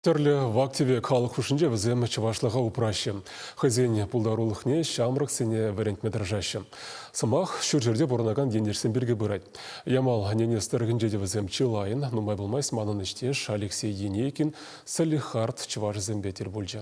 Тӗрлӗ вак-тӗвек халӑх хушшинче вӗсем чӑвашлӑха упраҫҫӗ, хӑйсен пултарулӑхне ҫамрӑксене вӗрентме тӑрӑшаҫҫӗ. Сӑмах ҫурҫӗрте пурӑнакан ентешсем пирки пырать. Ямал Ненец тӑрӑхӗнче те вӗсем чылайӑн, нумай пулмасть манӑн ӗҫтеш Алексей Енейкин Сӗллехарт чӑвашӗсемпе тӗл пулчӗ.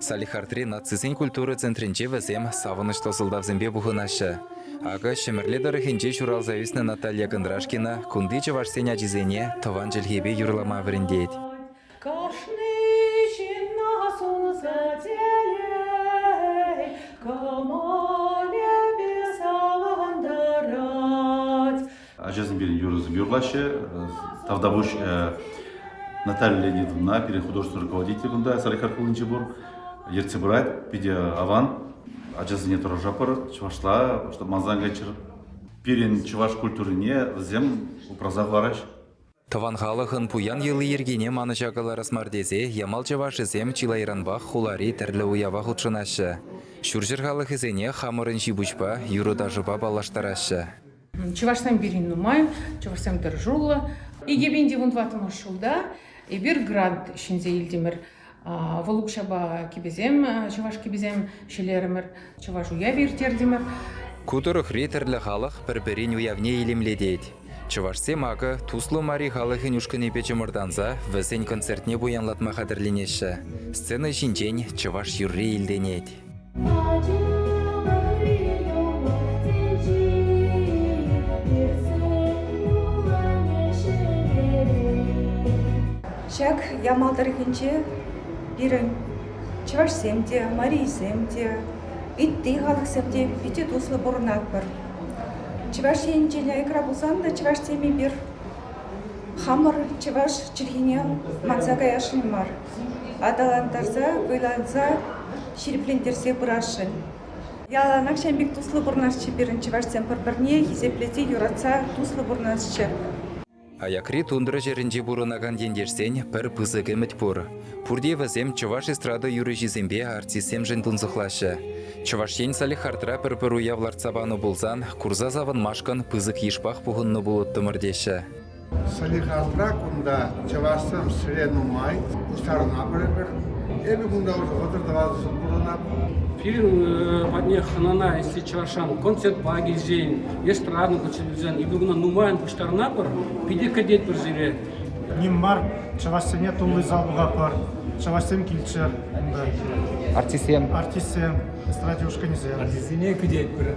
Салихардри нацисен культура центрӗнче вӗсем савӑнӑҫлӑ сӑлтавсемпе пухӑнаҫҫӗ. Акӑ, Ҫӗмӗрле тӑрӑхӗнче ҫуралса ӳснӗ Наталья Кондрашкина кунти чӑвашсен ачисене тӑван чӗлхепе юрлама вӗрентет. Кашни ҫынна сунса телей, кӑмӑлӗпе савӑнтарать Ачасем пирӗн юрӑсем юрлаҫҫӗ. Тавтапуҫ Наталья Леонидовна, пирӗн художество руководитель кунта Сарайкар хулинче пур. Ертсе пырать питӗ аван. Ачасене тӑрӑшапӑр чӑвашла, чтобы ман заң каччӑр. Пирӗн чӑваш культурине вӗсем упраса хӑвараҫ. Тӑван халӑхӑн пуян йӑли-йӗркине манӑҫа кӑларас мар тесе Ямал чӑвашӗсем чылайранпах хулари тӗрлӗ уява хутшӑнаҫҫӗ. Ҫурҫӗр халӑхӗсене хамӑрӑн ҫи-пуҫпа, юрӑ-ташӑпа паллаштараҫҫӗ. Чӑвашсем пирӗн нумай, чӑвашсем тӑрӑшуллӑ. Икӗ пин ҫивӗч тӑваттӑмӗш ҫулта эпир грант ҫӗнсе илтӗмӗр. Вӑл укҫапа кӗпесем, чӑваш кӗписем ҫӗлерӗмӗр, чӑваш уявӗ ирттертӗмӗр. Ку тӑрӑхри тӗрлӗ халӑх пӗр-пӗрин уявне илемлетет. Чӑвашсем акӑ Туслӑ мари халӑхӗн ушкӑнӗпе чӑмӑртанса вӗсен концертне пуянлатма хатӗрленеҫҫӗ. Сцена ҫинчен чӑваш юрри илтӗнет. Ҫак ял тӑрӑхӗнче пирӗн чӑвашсем те, марийсем те, ытти халӑхсем те питӗ туслӑ пурӑнатпӑр. Чӑваш енчен аякра пулсан та чӑваш теми пир хамӑр чӑваш чӗлхине манса каяшни мар. аталантарса, вӑйланса, ҫирӗплентерсе пырасшӑн. Яланах ҫын пек туслӑ пурӑнасчӗ пирӗн чӑвашсем пӗр-пӗрне хисеплесе, юратса туслӑ пурӑнасчӗ. Аякри тундра ҫӗрӗнче пурӑнакан ентешсен пӗр пысӑк ӗмӗт пур. Пурте вӗсем чӑваш эстрада юрӑҫисемпе артистсемшӗн тунсӑхлаҫҫӗ. Чӑваш Ен Салихардра пӗр-пӗр уяв лартса панӑ пулсан курса савӑнмашкӑн пысӑк йышпах пухӑннӑ пулӑттӑмӑр теҫҫӗ. Салихарта кунта чӑвашсем сӗре нумай, пуҫтарӑна пӗлӗпӗр. Эпӗ кунта уже вӑтӑр тӑватӑ ҫул пурӑнатпӑр. Пирӗн патне хӑнана, если чӑвашран концертпа килсен, эстрада кӗтсен, эпир кунта нумайӑн пуҫтарӑнатпӑр, питӗ кӗтетпӗр сире. Ним мар, чӑвашсене тулли зал пухатпӑр. Чӑвашсем килччӗр кунта. Артистсем. Артистсем, эстраде ушкӑнӗсем. Артистсене кӗтетпӗр.